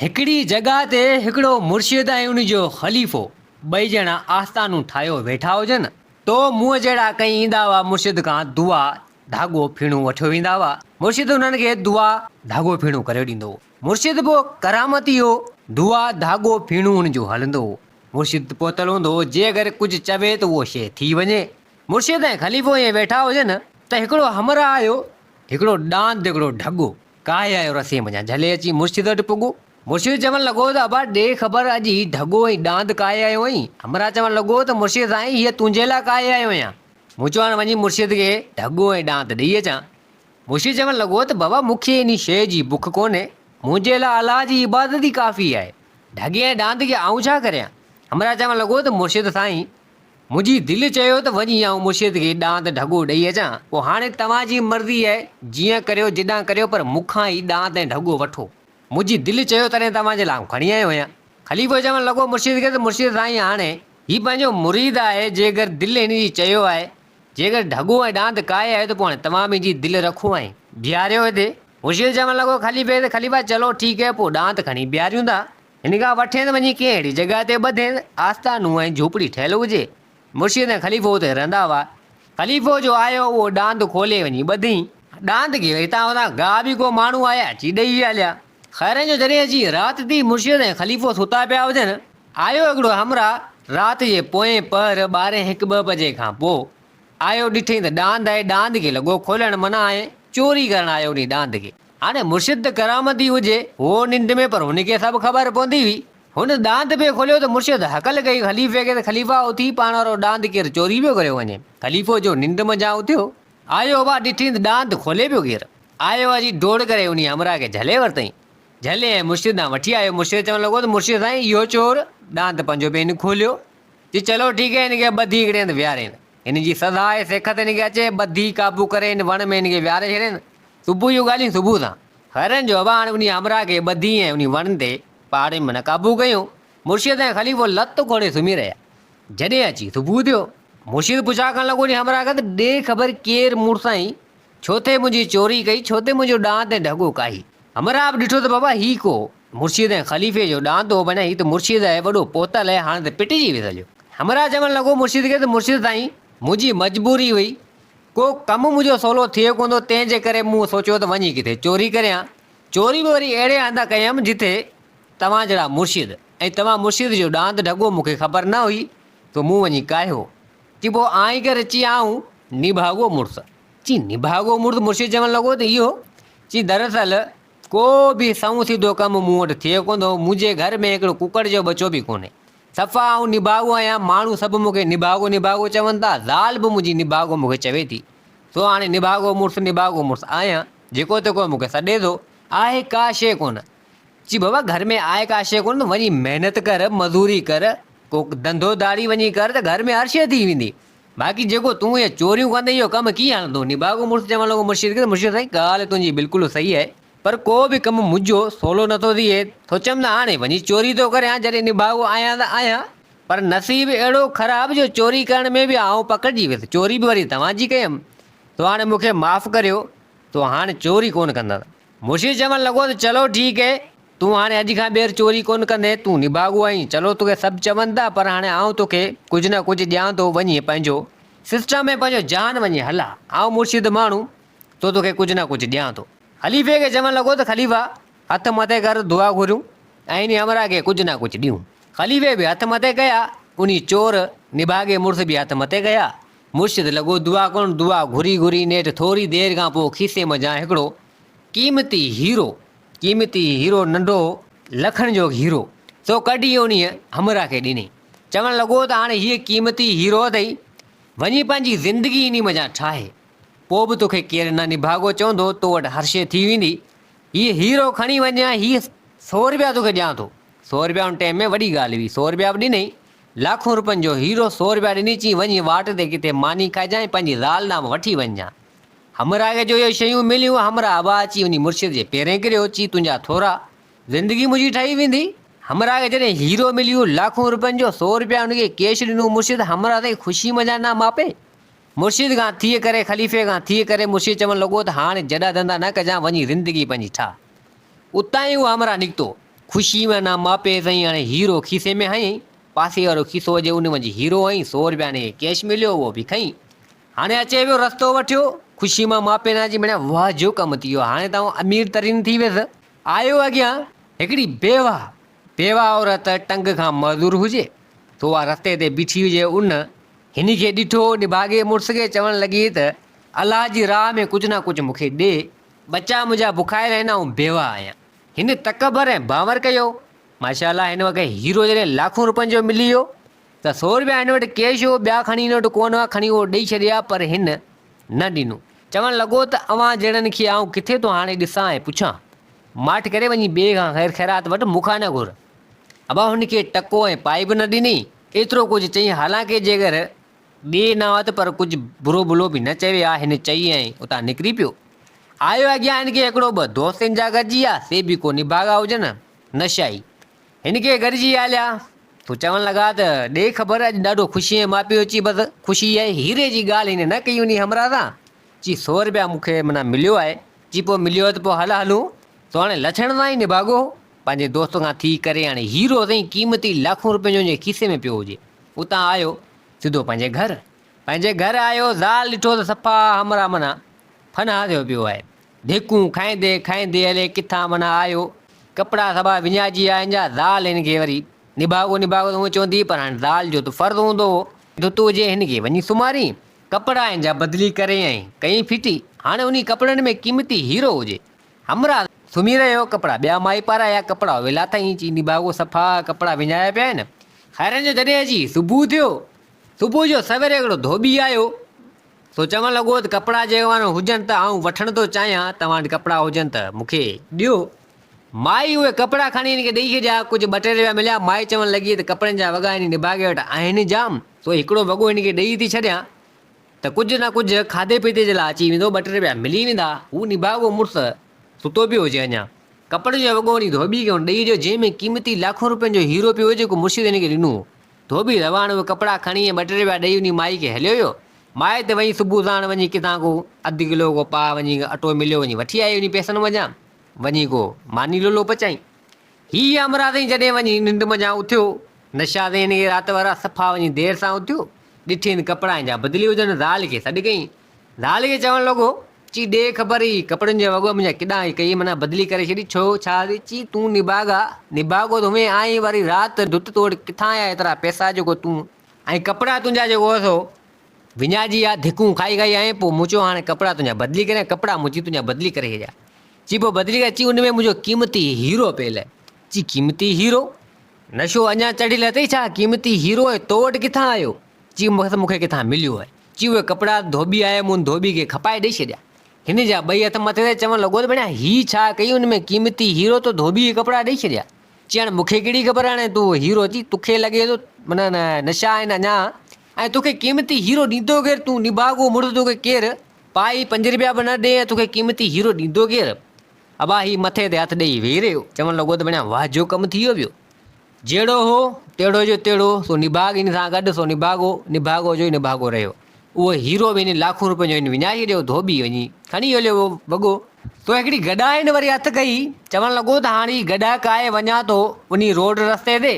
هڪڙي جڳهه تي هڪڙو مرشد ۽ ان جو خليفو ٻئي ڄڻا آستانون ٺاهيو ويٺا هجن تو مون جهڙا ڪئين ايندا هئا مرشد کان دعا ڌاڳو ڦيڻو وٺيو ويندا هئا مرشد انهن کي دعا ڌاڳو ڦيڻو ڪري ڏيندو هو مرشد به ڪرامتي هو دعا ڌاڳو ڦيڻو ان جو هلندو هو مرشد پهتل هوندو هو جي اگر ڪجهه چوي ته اهو شيء ٿي وڃي مرشد ۽ خليفو ائين ويٺا هجن ته هڪڙو همراهه آيو هڪڙو ڏاند هڪڙو ڍڳو ڪاهي آيو رسين منجهان، جهلي اچي مرشد وٽ پڳو. مرشد چوڻ لڳو ته ابا ڏي خبر اڄ هي ڍڳو ۽ ڏاند ڪاهي آيو آهين؟ همراهه چوڻ لڳو ته مرشد سائين هيء تنهنجي لاء ڪاهي آيو آهيان. مون چيو هاڻ وڃي مرشد کي ڍڳو ۽ ڏاند ڏئي اچان. مرشد چوڻ لڳو ته بابا مون کي انهي شيء جي بک ڪونهي، منهنجي لاء الله جي عبادت ئي ڪافي آهي، ڍڳي ۽ ڏاند کي آئون ڇا ڪريان؟ همراهه چوڻ لڳو ته مرشد سائين! منهنجي دل چيو ته وڃي آئون مرشد کي ڏانت ڍڳو ڏئي اچان، پوء هاڻي توهان جي مرضي آهي، جيئن ڪريو جيڏانهن ڪريو پر مون کان هي ڏانت ۽ ڍڳو وٺو. منهنجي دل چيو تڏهن توهان جي لاء آئون کڻي آيو آهيان. خليفو چوڻ لڳو مرشد کي ته مرشد سائين هاڻي هي پنهنجو مريد آهي، جيڪر دل هن جي چيو آهي، جيڪر ڍڳو ۽ ڏانت ڪاهي آيو ته پوء هاڻي توهان به هن جي دل رکو ۽ بيهاريو هتي. مرشد چوڻ لڳو خليفي کي ته خليفا چلو ٺيڪ آهي پوء ڏانت کڻي بيهاريون ٿا. هن کان وٺين وڃي ڪنهن اهڙي جڳهه تي ٻڌين، آستانو ۽ جهوپڙي ٺهيل هجي. مرشد ۽ خليفو اتي رهندا هئا. خليفو جو آيو اهو ڏاند کولي وڃي ٻڌين. ڏاند کي هتان هتان گاهه به ڪو ماڻهو آيا اچي ڏئي ويا هليا. خيرن جو جڏهن اچي رات ٿي مرشد ۽ خليفو ستا پيا هجن، آيو هڪڙو همراهه رات جي پوئين پهر ٻارهين هڪ ٻه بجي کان پوء آيو ڏٺئين ته ڏاند آهي ڏاند کي لڳو کولڻ منع آهي چوري ڪرڻ آيو انهي ڏاند کي. هاڻي مرشد ته ڪرامت ئي هجي، هو ننڊ ۾ پر هن کي سڀ خبر پوندي هئي. هن ڏاند پئي کوليو ته مرشد هڪل ڪئي خليفي کي ته خليفا اٿي پاڻ وارو ڏاند ڪير چوري پيو ڪريو وڃي. خليفو جو ننڊ منجهان اٿيو آيو اڀا ڏٺين ته ڏاند کولي پيو ڪير. آيو اچي ڊوڙ ڪري انهي همراهه کي جهلي ورتئين. جهلي ۽ مرشد ڏانهن وٺي آيو مرشد چوڻ لڳو ته مرشد سائين اهو چور ڏاند پنهنجو پئي نه کوليو. چي چلو ٺيڪ آهي هن کي ٻڌي هڪڙي هنڌ ويهارين. هن جي سزا آهي سيکت هن کي اچي، ٻڌي قابو ڪري هن وڻ ۾ هن کي ويهاري ڇڏين. صبح جون ڳالهيون صبح سان. هرڻ جو ابا هاڻي انهيء همراهه کي ٻڌي ۽ انهي وڻ تي، پهاڙين ۾ نه قابو ڪيون. مرشد ۽ خليفو لت کوڙي سمهي رهيا. جڏهن اچي صبح ٿيو. مرشد پڇا ڪرڻ لڳو انهي همراهه کان ته ڏي خبر ڪير مون سائين ڇو ٿي منهنجي چوري ڪئي، ڇو ٿي منهنجو ڏانت ۽ ڍڳو ڪاهي. همراهه به ڏٺو ته بابا هي ڪو مرشد ۽ خليفي جو ڏاند هو بنهه هي ته مرشد آهي وڏو پوتل هي هاڻ ته پٽجي ويس هليو. همراهه چوڻ لڳو مرشد کي ته مرشد سائين منهنجي مجبوري هئي ڪو ڪم منهنجو سولو ٿئي ڪونه ٿو تنهن جي ڪري مون سوچيو ته وڃي ڪٿي چوري ڪريان چوري به وري اهڙي هنڌ ڪيم جتي توهان جهڙا مرشد ۽ توهان مرشد جو ڏاند ڍڳو مون کي خبر نه هئي سو مون وڃي ڪاهيو چي پوء آئين ڪري چي آئون نڀاڳو مڙس چي نڀاڳو مڙس مرشد چوڻ لڳو ته اهو چي دراصل ڪو به سنئون سڌو ڪم مون وٽ ٿئي ڪونه ٿو. منهنجي گهر ۾ هڪڙو ڪڪڙ جو ٻچو به ڪونهي. صفا آئون نڀاڳو آهيان. ماڻهو سڀ مون کي نڀاڳو نڀاڳو چون ٿا. زال به منهنجي نڀاڳو مون کي چوي ٿي. سو هاڻي نڀاڳو مڙس نڀاڳو مڙس آهيان. جيڪو تيڪو مون کي سڏي ٿو. آهي ڪا شيء ڪونه. چي بابا گهر ۾ آهي ڪا شيء ڪونه ته وڃي محنت ڪر، مزوري ڪر، ڪو ڌنڌو ڌاڙي وڃي ڪر ته گهر ۾ هر شيء ٿي ويندي. باقي جيڪو تون اهي چوريون ڪندين اهو ڪم ڪيئن هلندو؟ نڀاڳو مڙس چوڻ لڳو مرشد کي ته مرشد سائين ڳالهه تنهنجي بلڪل صحيح آهي پر ڪو به ڪم منهنجو سولو نه ٿو ٿئي سوچيم ته هاڻي وڃي چوري ٿو ڪريان جڏهن نڀاڳو آهيان ته آهيان پر نصيب اهڙو خراب جو چوري ڪرڻ ۾ به آئون پڪڙجي ويس چوري به وري توهان جي ڪيم سو هاڻي مون کي معاف ڪريو سو هاڻ چوري ڪونه ڪندس. مرشد چوڻ لڳو ته چلو ٺيڪ اهي، تون هاڻي اڄ کان ٻيهر چوري ڪونه ڪندين، تون نڀاڳو آهين، چلو توکي سڀ چون ٿا پر هاڻي آئون توکي ڪجهه نه ڪجهه ڏيان ٿو، وڃ هي پنهنجو سسٽم ۽ پنهنجو جهان وڃي هل ها، آئون مرشد ماڻهو تو توکي ڪجهه نه ڪجهه ڏيان ٿو. خليفي کي چوڻ لڳو ته خليفا هٿ مٿي ڪر دعا گهريون ۽ انهي همراهه کي ڪجهه نه ڪجهه ڏيون. خليفي به هٿ مٿي ڪيا، انهي چور نڀاڳي مڙس به هٿ مٿي ڪيا. مرشد لڳو دعا ڪرڻ، دعا گهري گهري نيٺ ٿوري دير کان پوء کيسي منجهان هڪڙو قيمتي هيرو، قيمتي هيرو ننڍو هو لکن جو هيرو، سو ڪڍي انهيء همراهه کي ڏني. چوڻ لڳو ته هاڻي هيء قيمتي هيرو اٿئي، وڃي پنهنجي زندگي انهي منجهان ٺاهه، پوء به توکي ڪير نه نڀاڳو چوندو، تو وٽ هر شيء ٿي ويندي، هيء هيرو کڻي وڃ ۽ هي سؤ رپيا توکي ڏيان ٿو. سؤ رپيا ان ٽيم ۾ وڏي ڳالهه هئي، سؤ رپيا به ڏنئي لاکون روپين جو هيرو سو روپيا ڏني چيائين وڃي واٽ تي ڪٿي ماني کائجان ۽ پنهنجي زال ڏانهن وٺي وڃجان. همراهيء جو اهي شيون مليون، همراهه ابا اچي انهي مرشد جي پيرين ڪريو، چي تنهنجا ٿورا، زندگي منهنجي ٺهي ويندي. همراهه کي جڏهن هيرو مليو لاکون روپين جو سو روپيا ان کي ڪيش ڏنو مرشد همراهه تائين خوشي منجهان نه ماپي. مرشد کان ٿي ڪري خليفي کان ٿي ڪري مرشد چوڻ لڳو ته هاڻي جڏا ڌندا نه ڪجان وڃي زندگي پنهنجي ٺاهه. اتان ئي اهو همراهه نڪتو. خوشي ۾ انا ماپي سائين هاڻي هيرو کيسي ۾ هنئين. پاسي وارو کيسو جي ان منجهه هيرو هنئين سو روپيا هن کي ڪيش مليو اهو به کنئين. هاڻي اچي ويو رستو وٺيو. خوشي مان ماپي انا جي مڙيا واهه جو ڪم ٿي ويو هاڻي ته آئون امير ترين ٿي ويس. آيو اڳيان هڪڙي بيواهه بيوه عورت ٽنگ کان معذور هجي ته اها رستي تي بيٺي هجي ان هني کي ڏٺو، نڀاڳي مڙس کي چوڻ لڳي ته الله جي راهه ۾ ڪجهه نه ڪجهه مون کي ڏي، ٻچا منهنجا بکايل آهن آئون بيوه آهيان. هن تڪبر ۽ ڀانور ڪيو. ماشاء الله هن وقت هيرو جڏهن لاکون روپين جو ملي ويو ته سو روپيا هن وٽ ڪيش هو ٻيا کڻي هن وٽ ڪونه هئا کڻي اهو ڏئي ڇڏيا پر هن نه ڏنو چوڻ لڳو ته اوهان جهڙن کي آئون ڪٿي ٿو هاڻي ڏسان ۽ پڇان ماٺ ڪري وڃي ٻئي کان خير خيرات وٺ، مون کان نه گهر. ابا هن کي ٽڪو ۽ پائي به نه ڏني. ايترو ڪجهه چئي حالانڪه جيگر ڏي نه آت پر ڪجهه برو ڀلو به نه چوي ها، هن چئي ۽ اتان نڪري پيو. آيو اڳيان هن کي هڪڙو ٻه دوستين جا گڏجي ويا، سي به ڪو نڀاڳا هجن، نشائي. هن کي گڏجي هليا تو چوڻ لڳا ته، ڏي خبر اڄ ڏاڍو خوشي ۽ ماپيو اچي بس خوشي ۽ هيري جي ڳالهه هن نه ڪئي انهي همراهه سان چي سؤ رپيا مون کي معنيٰ مليو آهي. چي پوء مليو آهي ته پوء هل هلون. سو هاڻي لڇڻ سان ئي نڀاڳو هو. پنهنجي دوست کان ٿي ڪري هاڻي هيرو سائين قيمتي لاکون رپين جو هن جي کيسي ۾ پيو هجي. اتان آيو سڌو پنهنجي گهر. پنهنجي گهر آيو زال ڏٺو ته صفا همراهه معنيٰ فنا ٿيو پيو آهي. ڌيڪون کائيندي کائيندي الئي ڪٿان معنيٰ آيو. ڪپڙا سڀا وڃائجي ويا هن جا. زال هن کي وري نڀاڳو نڀاڳو ته هونئن چوندي پر هاڻي زال جو ته فرض هوندو هو. ته تون جي هن کي وڃي سمهارين ڪپڙا ۽ جا بدلي ڪرين ۽ ڪئين ڦٽي، هاڻي انهي ڪپڙن ۾ قيمتي هيرو هجي. همراهه سمهي رهيو ڪپڙا ٻيا مائي پارايا ڪپڙا ويلا ته ائين چئي نڀاڳو صفا ڪپڙا وڃايا پيا آهن. خيرن جو جڏهن اچي صبح ٿيو، صبح جو سوير هڪڙو ڌوٻي آيو، سو چوڻ لڳو ته ڪپڙا جيوان هجن ته آئون وٺڻ ٿو چاهيان، توهان وٽ ڪپڙا هجن ته مون کي ڏيو. مائي اهي ڪپڙا کڻي هن کي ڏئي ڇڏيا. ڪجهه ٻه ٽي رپيا مليا. مائي چوڻ لڳي ته ڪپڙن جا وڳا هن نڀاڳي وٽ آهن ئي جام، سو هڪڙو وڳو هن کي ڏئي ٿي ڇڏيان ته ڪجهه نه ڪجهه کاڌي پيتي جي لاء اچي ويندو، ٻه ٽي رپيا ملي ويندا. هو نڀاڳو مڙس ستو پيو هجي اڃا. ڪپڙن جو وڳو هن ڌوٻي کي هن ڏئي ڇڏيو، جنهن ۾ قيمتي لاکون رپين جو هيرو پيو هو، جيڪو مرشد هن کي ڏنو هو. ڌوٻي رواڻ اهي ڪپڙا کڻي ۽ ٻه ٽي رپيا ڏئي انهي مائي کي هليو ويو. مائي ته وڃي صبح ساڻ وڃي ڪٿان ڪو اڌ ڪلو ڪو پاء وڃي اٽو مليو وڃي وٺي آئي انهي پئسن منجهان. وڃي ڪو ماني لولو پچائين. هيء امراضين جڏهن وڃي ننڊ منجهان اٿيو، نشاذين اهي رات وارا صفا وڃي دير سان اٿيو، ڏٺين ڪپڙا ۽ جا بدلي هجن، زال کي سڏ ڪيائين. زال کي چوڻ لڳو، چي ڏي خبر هي ڪپڙن جا وڳا منجهان ڪيڏانهن هي ڪئي، منا بدلي ڪري ڇڏي ڇو ڇا ٿي؟ چي تون نڀاڳا، نڀاڳو ته هئين آهين، واري رات ڍٽ توڙ ڪٿان آيا ايترا پئسا جيڪو تون ۽ ڪپڙا تنهنجا جيڪو هئس هو وڃاء جي يا ڌڪون کائي کائي آئين پوء مون چيو هاڻي ڪپڙا تنهنجا بدلي ڪريان ڪپڙا مون چي تنهنجا بدلي ڪري ڇڏيا چي پوء بدلي ڪر چي ان ۾ منهنجو قيمتي هيرو پيل آهي چي قيمتي هيرو نشو اڃا چڙهيل اٿئي ڇا قيمتي هيرو ۽ تو وٽ ڪٿان آيو چي مون کي ڪٿان مليو آهي چي اهي ڪپڙا ڌوٻي آهي مون ڌوٻي کي کپائي ڏئي ڇڏيا هن جا ٻئي هٿ مٿي ٿي چوڻ لڳو ته ڀيڻا هي ڇا ڪئي ان ۾ قيمتي هيرو تو ڌوٻي کي ڪپڙا ڏئي ڇڏيا چي هاڻي مون کي ڪهڙي خبر هاڻي تون هيرو چي توکي لڳي ٿو منا نشا آهن اڃا ۽ توکي قيمتي هيرو ڏيندو ڪير؟ تون نڀاڳو مڙد توکي ڪير پائي پنج رپيا به نه ڏئي ۽ توکي قيمتي هيرو ڏيندو ڪير؟ ابا هي مٿي تي هٿ ڏيئي ويهي رهيو چوڻ لڳو ته بڻيا واه جو ڪم ٿيو ويو جهڙو هو تهڙو جو تهڙو سو نڀاڳ ان سان گڏ سو نڀاڳو نڀاڳو جو ئي نڀاڳو رهيو اهو هيرو به ان لاکون رپين جو ان وڃائي ڇڏيو ڌوٻي وڃي کڻي هليو ويو وڳو تو هڪڙي گڏا ان وري هٿ ڪئي چوڻ لڳو ته هاڻ هي گڏا ڪاهي وڃان ٿو انهي روڊ رستي تي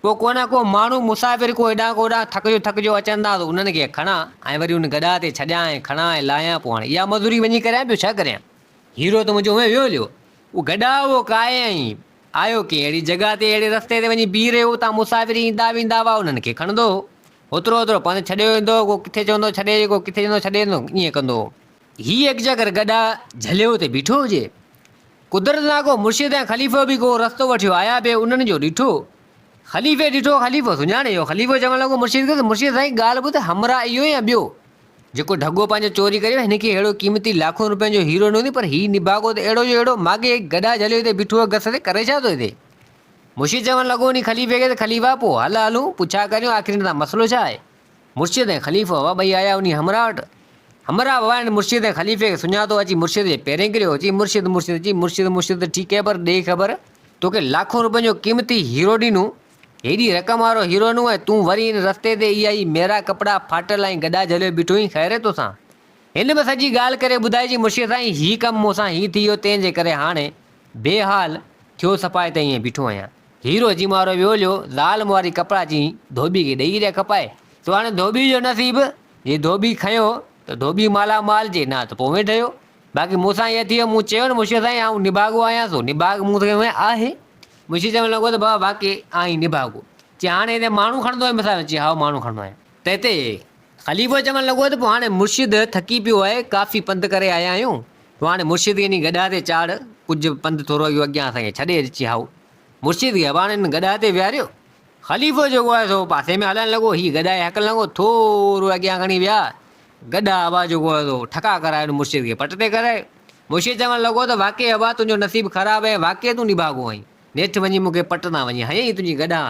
پوء ڪو نه ڪو ماڻهو مسافر ڪو هيڏانهن ڪو هوڏانهن ٿڪجو ٿڪجو اچن ٿا ته انهن کي کڻان ۽ وري ان گڏهه تي ڇڏيان ۽ کڻان ۽ لاهيان پوء هاڻي اها مزوري وڃي ڪريان ٻيو ڇا ڪريان. هيرو ته منهنجو اوهين ويو هليو اهو گڏهه اهو ڪاهي ۽ آيو ڪنهن اهڙي جڳهه تي اهڙي رستي تي وڃي بيهي رهيو اتان مسافر ايندا ويندا هئا انهن کي کڻندو هو هوترو هوترو پنڌ ڇڏيو ويندو هو ڪو ڪٿي چوندو ڇڏي اچ ڪو ڪٿي چوندو ڇڏي اچ ائين ڪندو هو هي ايڪجا ڪر گڏا جهليو تي بيٺو هجي. قدرت سان ڪو مرشد ۽ خليفو به ڪو رستو وٺيو آيا به انهن جو ڏٺو. خليفي ڏٺو خليفو سڃاڻي ويو. خليفو چوڻ لڳو مرشد کي ته مرشد سائين ڳالهه ٻڌ همراهه اهو يا ٻيو؟ جيڪو ڍڳو پنهنجو چوري ڪري ويو هن کي اهڙو قيمتي لاکون روپين جو هيرو نه هوندي پر هي نڀاڳو ته اهڙو جو اهڙو ماڳهي گڏا جهليو تي بيٺو آهي گس تي ڪرين ڇا ٿو هتي؟ مرشد چوڻ لڳو انهي خليفي کي ته خليفا پوء هل هلون پڇا ڪريون آخر هن سان مسئلو ڇا آهي؟ مرشد ۽ خليفو هئا، ٻئي آيا انهيء همراهه وٽ. همراهه به وائڻ مرشد ۽ خليفي کي سڃاتو، اچي مرشد جي پيرين ڪريو، چئي، مرشد مرشد چئي، مرشد مرشد ته ٺيڪ هي پر ڏي خبر، توکي لاکون روپين جو قيمتي هيرو ڏنون، هيڏي رقم وارو هيرو ڏنون ۽ تون وري هن رستي تي اها ئي ميرا ڪپڙا ڦاٽل ۽ گڏا جهليو بيٺو هين، خير هي توسان؟ هن به سڄي ڳالهه ڪري ٻڌائي، چئي، مرشد سائين هي ڪم مون سان هي ٿي ويو، تنهن جي ڪري هاڻي بي حال ٿيو صفا هتي ائين بيٺو آهيان. هيرو جي مارو ويو ليو، زال مواري ڪپڙا چين، ڌوٻي کي ڏئي ريا کپائي. سو هاڻي ڌوٻي جو نصيب، جي ڌوٻي کنيو ته ڌوٻي مالا مال، جي نه ته پوء اوهين ٺهيو. باقي مون سان ائين ٿيو، مون چيو نه منشي سائين آئون نڀاڳو آهيان، سو نڀاڳ مون کي هونئن آهي. منشي چوڻ لڳو ته بابا واقعي آهين نڀاڳو. چي هاڻي هتي ماڻهو کڻندو آهين؟ مون سان چيو هائو ماڻهو کڻندو آهيان. تنهن تي خليفو چوڻ لڳو ته پوء هاڻي مرشد ٿڪي پيو آهي، ڪافي پنڌ ڪري آيا آهيون، تون هاڻي مرشد کي انهي گڏهه تي چاڙهه، ڪجهه پنڌ ٿورو اهو اڳيان اسان کي ڇڏي اچي هائو. مرشد کي به هاڻي ان گڏهه تي ويهاريو. خليفو جيڪو آهي سو پاسي ۾ هلڻ لڳو، هي گڏهه کي هڪلڻ لڳو، ٿورو اڳيان کڻي ويا، گڏهه هوا جيڪو آهي سو ٺڪا ڪرائي ان مرشد کي پٽ تي ڪرايو. مرشد چوڻ لڳو ته واقعي هوا تنهنجو نصيب خراب ۽ واقعي تون نڀاڳو آهين. نيٺ وڃي مون کي پٽ تان وڃي هنيائين تنهنجي گڏا.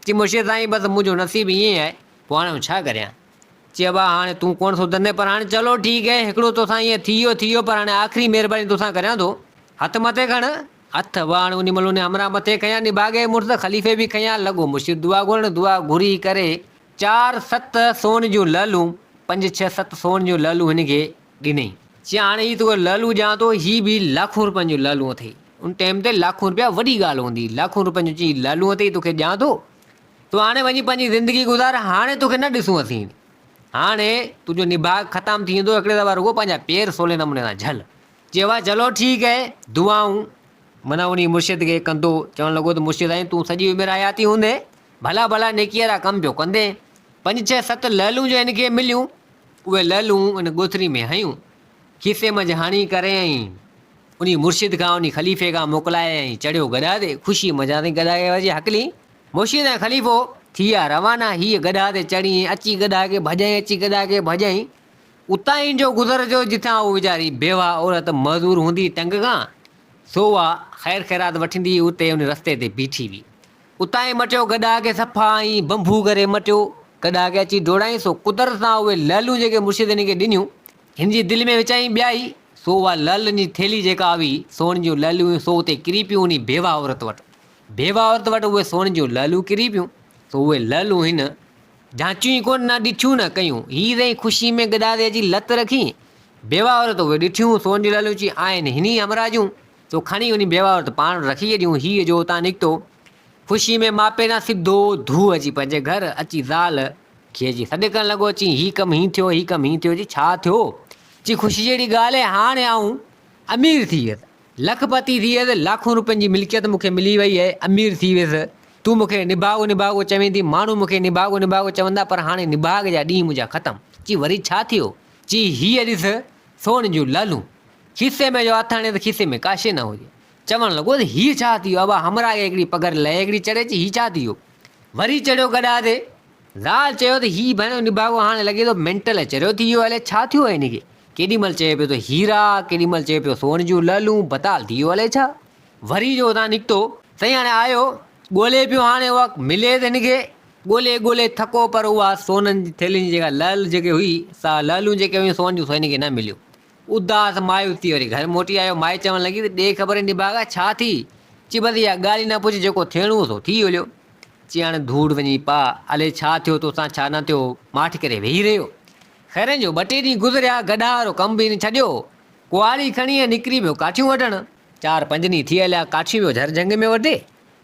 چي مشير سائين بس منهنجو نصيب ائين آهي، پوء هاڻي آئون ڇا ڪريان؟ چي ابا هاڻي تون ڪونه ٿو دني پر هاڻي چلو ٺيڪ آهي هڪڙو توسان ائين ٿي ويو ٿي ويو پر هاڻي آخري مهرباني توسان ڪريان ٿو هٿ مٿي کڻ. هٿ ابا هاڻي انهي مهل انهي همراهه مٿي کنيا نڀاڳي مڙس خليفي به کنيا لڳو مشير دعا گهرڻ دعا گهري ڪري چار ست سون جون لعلون پنج ڇهه ست سون جون لعلون هن کي ڏنئي. چيائين هاڻي هي توکي لعلون ڏيان ٿو، هي به لاکون روپين جون لعلون اٿئي. ان ٽيم تي لاکون روپيا وڏي ڳالهه هوندي هئي. لاکون روپين جون چيائين هي لعلون اٿئي، توکي ڏيان ٿو. تون هاڻي وڃي پنهنجي زندگي گذار، هاڻي توکي نه ڏسون اسين. هاڻي تنهنجو نڀاڳ ختم ٿي ويندو، هڪڙي دفعا رڳو پنهنجا پير سولي نموني سان جهل. چيو ها چلو ٺيڪ هي، دعائون. منهن انهيء مرشد کي ڪندو، چوڻ لڳو ته مرشد سائين تون سڄي عمر حياتي هوندين، ڀلا ڀلا نيڪيء وارا ڪم پيو ڪندين. پنج ڇهه ست لعلون جو هن کي مليون. اهي لعلون ان ڳوٿري ۾ هنيون، کيسي منجهه هڻي ڪري ۽ انهي مرشد کان انهي خليفي کان موڪلائي ۽ چڙهيو گڏهه تي، خوشي منجهان تائين گڏهه کي ورجي هڪلي. مرشد ۽ خليفو ٿيا روانا، هيء گڏهه تي چڙهي ۽ اچي گڏهه کي ڀڄائين، اچي گڏهه کي ڀڄائين، اتاهين جو گذر جو جتان اهو ويچاري بيواه عورت معذور هوندي تنگ کان، سو اها خير خيرات وٺندي اتي انهي رستي تي بيٺي هئي. اتان ئي مٽيو گڏا کي صفا ائين بنبو ڪري مٽيو گڏا کي اچي ڊوڙائين سو قدرت سان اهي لعلون جيڪي مرشد هن کي ڏنيون هن جي دل ۾ وچائين ٻيائي سو اها لعلن جي ٿيلهي جيڪا هئي سون جون لعلون هيون سو اتي ڪري پيون انهي بيوه عورت وٽ بيوه عورت وٽ اهي سون جون لعلون ڪري پيون سو اهي لعلون هن جانچيون ئي ڪونه نه ڏٺيون نه ڪيون هي سائين خوشي ۾ گڏا تي اچي لت رکين بيوه عورت اهي ڏٺيون سون جون لعلون چيائين آهن هن ئي همراهه جون سو کڻي انهي بيوه وٽ پاڻ رکي ڇڏيون. هيء جو اتان نڪتو، خوشيء ۾ ماپينا سڌو ڌو اچي پنهنجي گهر اچي زال کي جي سڏ ڪرڻ لڳو، چي هي ڪم هين ٿيو، هي ڪم هين ٿيو، جي ڇا ٿيو؟ چي خوشي جهڙي ڳالهه، هاڻ آئون امير ٿي ويس، لک پتي ٿي ويس، لاکون روپين جي ملڪيت مون کي ملي ويئي اهي، امير ٿي ويس، تون مون کي نڀاڳو نڀاڳو چوين ٿي، ماڻهو مون کي نڀاڳو نڀاڳو چوندا، پر هاڻي نڀاڳ جا ڏينهن منهنجا ختم. چي وري ڇا ٿيو؟ چي هيء ڏس سون جون لالون، کيسي ۾ جو هٿاڻي ته کيسي ۾ ڪا شيء نه هجي. چوڻ لڳو ته هيء ڇا ٿي ويو؟ ابا همراهيء هڪڙي پگهر لئي هڪڙي چڙهي اچي هيء ڇا ٿي ويو؟ وري چڙهيو گڏا تي. زال چيو ته هيء ڀيڻ نڀاڳو هاڻي لڳي ٿو مينٽل اچي رهيو ٿي ويو الئي ڇا ٿيو هن کي؟ ڪيڏي مهل چئي پيو ته هيرا، ڪيڏي مهل چئي پيو سون جون لعلون، بتال ٿي ويو الئي ڇا؟ وري جو اتان نڪتو. سائين هاڻي آيو. ڳولي پيو هاڻي اها ملي ته هن کي. ڳولي ڳولي ٿڪو پر اها سونن جي ٿيلهين جي جيڪا لعل جيڪي هئي سا لعلون جيڪي هيون سون جون سو هن کي نه مليون. اداس مايوس ٿي وري گهر موٽي آيو. مائي چوڻ لڳي ته ڏي خبر هن نڀاڳا ڇا ٿي چي بس اها ڳالهه ئي نه پڇ جيڪو ٿيڻو هو سو ٿي هليو. چي هاڻي ڌوڙ وڃي پاء الي ڇا ٿيو توسان ڇا نه ٿيو ماٺ ڪري ويهي رهيو. خيرن جو ٻه ٽي ڏينهن گذريا گڏهه وارو ڪم به هن ڇڏيو. ڪهاڙي کڻي ۽ نڪري پيو ڪاٺيون وڍڻ. چار پنج ڏينهن ٿي هليا ڪاٺيون ويو جهر جهنگ ۾ وڍي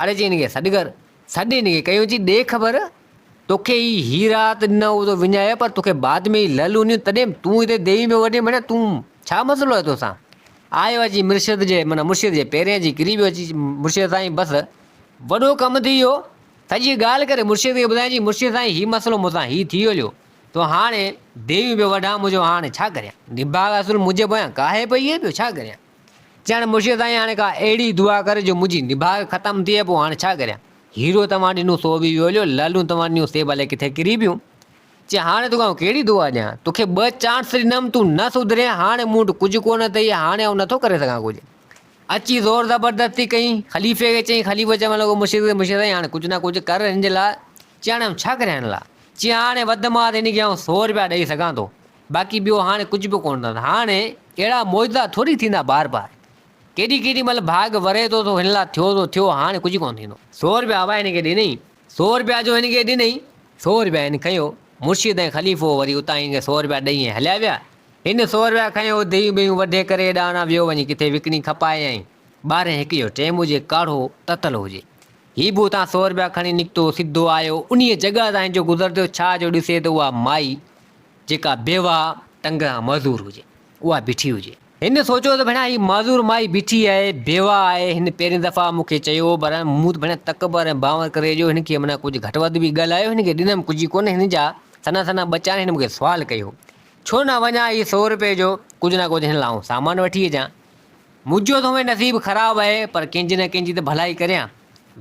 اڙي چئي هن کي سڏ ڪر. سڏ هن کي ڪيو چئي ڏي خبر توکي هي هي رات نه هو تو وڃايو پر توکي بعد ۾ هي لعل هونديون تڏهن تون هتي ديوي ۾ وڃي مڙيا تون ڇا مسئلو آهي توسان آيو اچي مرشد جي معنيٰ مرشد جي پيرين اچي ڪري پيو اچي مرشد سائين بس وڏو ڪم ٿي ويو سڄي ڳالهه ڪري مرشد کي ٻڌائين چئي مرشد سائين هي مسئلو مونسان هي ٿي هليو تو هاڻي ديوي ۾ وڍان منهنجو هاڻي ڇا ڪريان نڀاڳ اصل منهنجي پويان ڪاهي پئي هي ٻيو ڇا ڪريان چيائين، مرشد سائين هاڻي ڪا اهڙي دعا ڪر جو منهنجي نڀاڳ ختم ٿئي، پوء هاڻ ڇا ڪريان؟ هيرو توهان ڏنو سو به ويو ليو، لعلون توهان ڏنيون سي ڀلي ڪٿي ڪري پيون. چيائين، هاڻي توکي آئون ڪهڙي دعا ڏيان؟ توکي ٻه چانس ڏنم، تون نه سڌرين، هاڻي مون وٽ ڪجهه ڪونه اٿئي، هاڻي آئون نٿو ڪري سگهان ڪجهه. اچي زور زبردستي ڪئين، خليفي کي چيائين، خليفو چوڻ لڳو مرشد کي، مرشد سائين هاڻي ڪجهه نه ڪجهه ڪر هن جي لاء. چيائين، هاڻي آئون ڇا ڪريان هن لاء؟ چيائين، هاڻي وڌ مان وڌ هن کي آئون سؤ روپيا ڏئي سگهان ٿو. باقي ٻيو هاڻي ڪجهه به ڪونه ٿا. هاڻي اهڙا معجزا ٿوري ٿيندا بار بار. ڪيڏي ڪيڏي مهل ڀاڳ وري ٿو سو هن لاء ٿيو سو ٿيو هاڻي ڪجهه ڪونه ٿيندو. سو رپيا ابا هن کي ڏنئين. سو رپيا جو هن کي ڏنئين. سو رپيا هن کنيو. مرشد ۽ خليفو وري اتان هن کي سو رپيا ڏئي ۽ هليا ويا. هن سو رپيا کنيو ديون بيون وڍي ڪري اڏانا ويو وڃي ڪٿي وڪڻي کپايائين. ٻارهين هڪ جو ٽيم هجي ڪاڙهو تتل هجي. هي به اتان سو رپيا کڻي نڪتو سڌو آيو انهيء جڳهه تان هن جو گذر ٿيو ڇا جو ڏسي ته اها مائي جيڪا بيواه ٽنگران معذور هجي، اها بيٺي هجي. هن سوچيو ته ڀيڻا هي معذور مائي بيٺي آهي، بيواه آهي، هن پهرين دفعا مون کي چيو هو، پر مون ته ڀيڻا تڪبر ۽ بانور ڪري جو هن کي منا ڪجهه گهٽ وڌ به ڳالهايو، هن کي ڏنم ڪجهه ڪونه، هن جا سنا سنا ٻچا آهن، هن مون کي سوال ڪئي هو، ڇو نه وڃان هي سئو روپيه جو ڪجهه نه ڪجهه هن لاء آئون سامان وٺي اچان، منهنجو ته هونئن نصيب خراب آهي، پر ڪنهن جي نه ڪنهن جي ته ڀلائي ڪريان.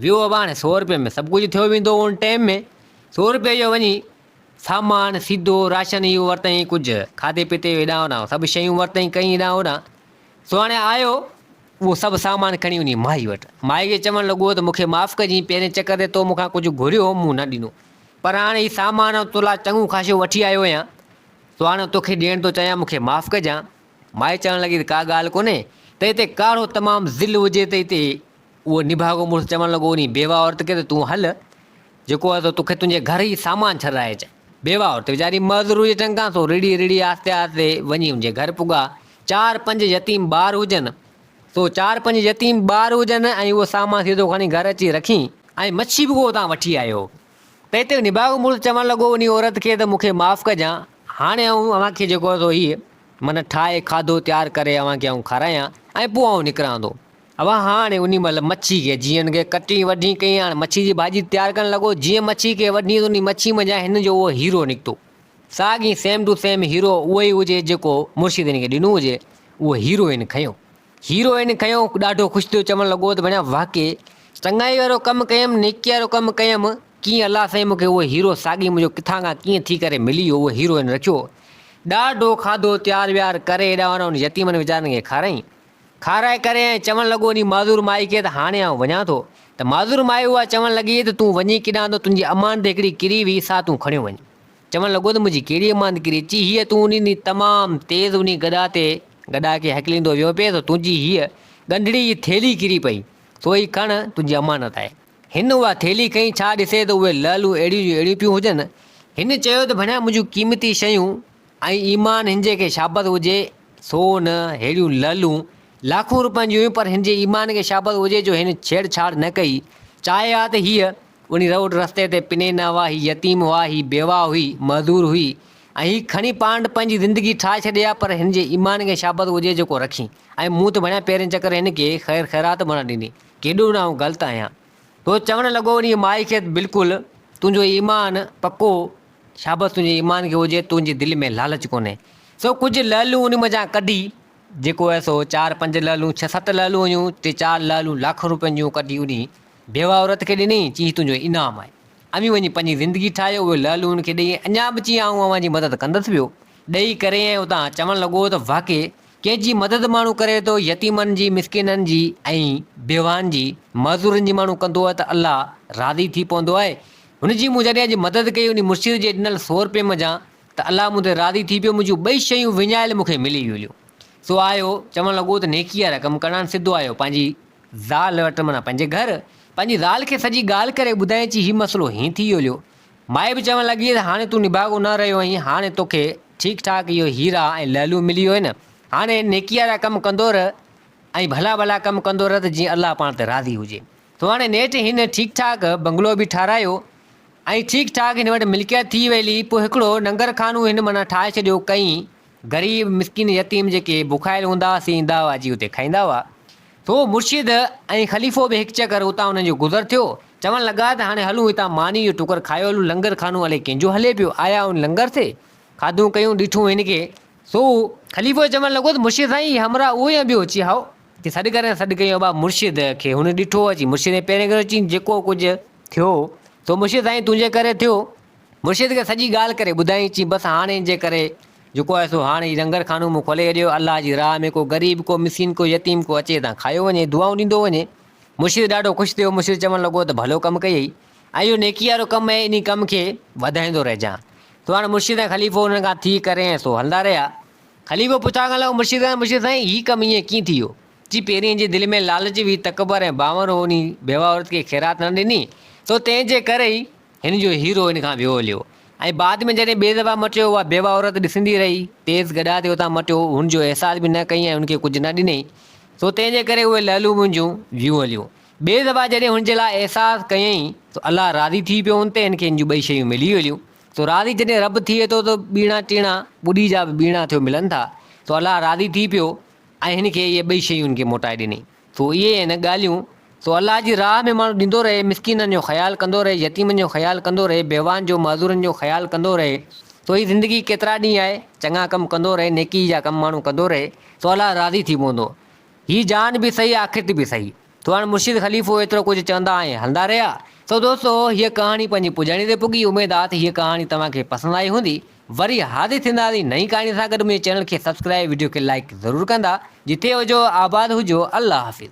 ويو اباڻ، سئو روپين ۾ سڀ ڪجهه ٿيو ويندو هو ان ٽيم ۾، سئو روپيه جو وڃي سامان سيڌو راشن اهو ورتائين ڪجهه کاڌي پيتي جو هيڏانهن هوڏانهن سڀ شيون ورتائين ڪئين هيڏانهن هوڏانهن سهاڻي آيو اهو سڀ سامان کڻي وڃي مائي وٽ مائي کي چوڻ لڳو ته مون کي معاف ڪجين پهرين چڪر تي تو مون کان ڪجهه گهريو هو مون نه ڏنو پر هاڻي هي سامان آئون تو لاء چڱو خاشو وٺي آيو آهيان سهاڻو توکي ڏيڻ ٿو چاهيان مون کي معاف ڪجان مائي چوڻ لڳي ته ڪا ڳالهه ڪونهي ته هتي ڪاڙهو تمام ذل هجي ته هتي اهو نڀاڳو مڙس چوڻ لڳو، انهي بيواه عورت کي ته تون هل، جيڪو آهي سو توکي تنهنجي گهر ئي سامان ڇڏرائي اچان. بيواه عورت ويچاري معذور هئي چڱ کان، سو رڙهي رڙهي آهستي آهستي وڃي ان جي گهر پڳا. چار پنج يتيم ٻار هجن، سو چار پنج يتيم ٻار هجن ۽ اهو سامان سيڌو کڻي گهر اچي رکين ۽ مڇي به ڪو اتان وٺي آيو هو. ته هتي نڀاڳو مڙس چوڻ لڳو، انهي عورت کي ته مون کي معاف ڪجان، هاڻي آئون اوهان کي جيڪو آهي سو هيء من ٺاهي کاڌو تيار ڪري اوهان کي آئون کارايان ۽ پوء آئون نڪران ٿو. اوهان هاڻي انهي مهل مڇي کي جيئن کي ڪٽڻي وڍڻي ڪئي هاڻي مڇي جي ڀاڄي تيار ڪرڻ لڳو جيئن مڇي کي وڍيس انهي مڇي منجهان هن جو اهو هيرو نڪتو ساڳي سيم ٽو سيم هيرو اهوئي هجي جيڪو مرشد هن کي ڏنو هجي اهو هيرو هن کنيو هيرو هن کنيو ڏاڍو خوش ٿيو چوڻ لڳو ته ڀيڻا واه ڪي چڱائي وارو ڪم ڪيم نيڪي وارو ڪم ڪيم ڪيئن الله سائين مونکي اهو هيرو ساڳي منهنجو ڪٿان کان ڪيئن ٿي ڪري ملي ويو اهو هيرو هن رکيو ڏاڍو کاڌو تيار ويار ڪري هيڏانهن هن يتيمن ويچارن کي کارائين کارائي ڪري ۽ چوڻ لڳو انهي معذور مائي کي ته هاڻي آئون وڃان ٿو. ته معذور مائي اها چوڻ لڳي ته تون وڃين ڪيڏانهن ته تنهنجي امانت هڪڙي ڪري وئي سا تون کڻيو وڃ. چوڻ لڳو ته منهنجي ڪهڙي امانت ڪري چي هيء تون انهي ڏينهن تمام تيز انهي گڏا تي گڏا کي هڪليندو ويو پئي سو تنهنجي هيء ڳنڍڙي جي ٿيلهي ڪري پئي سو هي کڻ تنهنجي امانت آهي. هن اها ٿيلهي کنئي ڇا ڏسي ته اهي لعلون اهڙيون جون اهڙيون پيون هجن. هن چيو ته ڀڻيا منهنجون قيمتي شيون ۽ ايمان هن جي کي شابس هجي سو نه ههڙيون لعلون لاکون روپين جون هيون پر هن جي ايمان کي شابس هجي جو هن ڇيڙ ڇاڙ نه ڪئي چاهي ها ته هيء انهي روڊ رستي تي پني نه هئا هي يتيم هئا هي بيواهه هئي معذور هئي ۽ هي کڻي پاڻ پنهنجي زندگي ٺاهي ڇڏي ها پر هن جي ايمان کي شابس هجي جيڪو رکين ۽ مون ته ڀڻيا پهرين چڪر هن کي خير خيرات به نه ڏني ڪيڏو نه آئون غلط آهيان سو چوڻ لڳو انهي مائي کي ته بلڪل تنهنجو ايمان پڪو شابس تنهنجي ايمان کي هجي تنهنجي دل ۾ لالچ ڪونهي. سو ڪجهه لعلون ان منجهان ڪڍي، جيڪو هيس سو چار پنج لعلون ڇهه ست لعلون هيون، تي چار لعلون لاکن روپين جون ڪڍي انهي بيوه عورت کي ڏنئين، چيئين هي تنهنجو انعام آهي. اوهين وڃي پنهنجي زندگي ٺاهيو، اهي لعلون ان کي ڏيئي اڃا به چيئين آئون اوهان جي مدد ڪندس ويو ڏيئي ڪري ۽ اتان چوڻ لڳو ته واقعي ڪنهن جي مدد ماڻهو ڪري ٿو يتيمن جي مسڪينن جي ۽ بيوهن جي معذورن جي ماڻهو ڪندو آهي ته الله راضي ٿي پوندو آهي هن جي مون جڏهن اڄ مدد ڪئي انهي مرشد جي ڏنل سو رپين منجهان ته الله مون تي راضي ٿي پيو منهنجون ٻئي شيون وڃايل مون کي ملي ويليون سو آهيو چوڻ لڳو ته نيڪي وارا ڪم ڪرڻان سڌو آهيو پنهنجي زال وٽ معنيٰ پنهنجي گهر پنهنجي زال کي سڄي ڳالهه ڪري ٻڌائين چي هي مسئلو هين ٿي ويليو مائي به چوڻ لڳي ته هاڻي تون نڀاڳو نه رهيو آهين هاڻي تو کي ٺيڪ ٺاڪ اهي هيرا ۽ لعلون ملي ويو آهن هاڻي نيڪي وارا ڪم ڪندو رهه ۽ ڀلا ڀلا ڪم ڪندو رهه ته جيئن الله پاڻ تي راضي هجي سو هاڻي نيٺ هن ٺيڪ ٺاڪ بنگلو به ٺاراهيو ۽ ٺيڪ ٺاڪ هن وٽ ملڪيت ٿي ويلي پوء هڪڙو ننگر خانو هن معنيٰ ٺاهي ڇڏيو ڪئين غريب مسڪين يتيم جيڪي بکايل هوندا ها سي ايندا هئا اچي اتي کائيندا هئا سو مرشد ۽ خليفو به هڪ چڪر اتان انهن جو گذر ٿيو چوڻ لڳا ته هاڻي هلون هتان ماني جو ٽڪر کايو هلون لنگر خانو الئي ڪنهن جو هلي پيو آيا ان لنگر تي کاڌون ڪيون ڏٺون هن کي سو خليفو چوڻ لڳو ته مرشد سائين هي همراهه اهو يا ٻيو؟ چي هائو. چي سڏ ڪر ۽ سڏ ڪيائون ابا مرشد کي هن ڏٺو اچي مرشد ۽ پهرين ڪريو چين جيڪو ڪجهه ٿيو سو مرشد سائين تنهنجي ڪري ٿيو مرشد کي سڄي ڳالهه ڪري ٻڌائين چين بس هاڻ هن جي ڪري جيڪو آهي سو هاڻ هي لنگر خانو مون کولي ڇڏيو الله جي راهه ۾ ڪو غريب ڪو مسڪين ڪو يتيم ڪو اچي هتان کايو وڃي دعائون ڏيندو وڃي مرشد ڏاڍو خوش ٿيو مرشد چوڻ لڳو ته ڀلو ڪم ڪيئي. ۽ اهو نيڪيء وارو ڪم ۽ انهي ڪم کي وڌائيندو رهجان. سو هاڻ مرشد ۽ خليفو انهن کان ٿي ڪري ۽ سو هلندا رهيا. خليفو پڇا ڪرڻ لڳو مرشد کان مرشد سائين هي ڪم ائين ڪيئن ٿيو؟ چي پهرين جي دل ۾ لالچ هئي، تڪبر ۽ بانور هو انهي بيوه عورت کي خيرات نه ڏني، سو تنهن جي ڪري ئي هن جو هيرو هن کان ويوليو ۽ بعد ۾ جڏهن ٻي دفعا مٽيو اها بيوه عورت ڏسندي رهي، تيز گڏا تي اتان مٽيو، هن جو احساس به نه ڪئي ۽ هن کي ڪجهه نه ڏني، سو تنهن جي ڪري اهي لعلون منهنجون ويوليون. ٻئي دفعا جڏهن هن جي لاء احساس ڪيائين سو الله راضي ٿي پيو هن تي هن کي هن جون ٻئي شيون ملي ويليون سو راضي جڏهن رب ٿئي ٿو ته ٻيڻا ٽيڻا ٻڏي جا به ٻيڻا ٿيو ملن ٿا سو الله راضي ٿي پيو ۽ هن کي اهي ٻئي شيون هن کي موٽائي ڏني سو اهي آهن ڳالهيون سو الله جي راهه ۾ ماڻهو ڏيندو رهي مسڪينن جو خيال ڪندو رهي يتيمن جو خيال ڪندو رهي بيوان جو معذورن جو خيال ڪندو رهي سو هي زندگي ڪيترا ڏينهن آهي چڱا ڪم ڪندو رهي نيڪي جا ڪم ماڻهو ڪندو رهي سو الله راضي ٿي پوندو هي جان به سهي آخرت به سهي. تو هاڻ مرشد خليفو ايترو ڪجهه چوندا ۽ هلندا رهيا. سو دوستو هيء ڪهاڻي پنهنجي پڄاڻي تي پڳي اميد آ ته هيء ڪهاڻي توهان کي پسند آئي هوندي. وري حاضر ٿينداسين نئين ڪهاڻي سان گڏ منهنجي چينل کي سبسڪرائب وڊيو کي لائيڪ ضرور ڪندا. جتي هجو آباد هجو الله حافظ.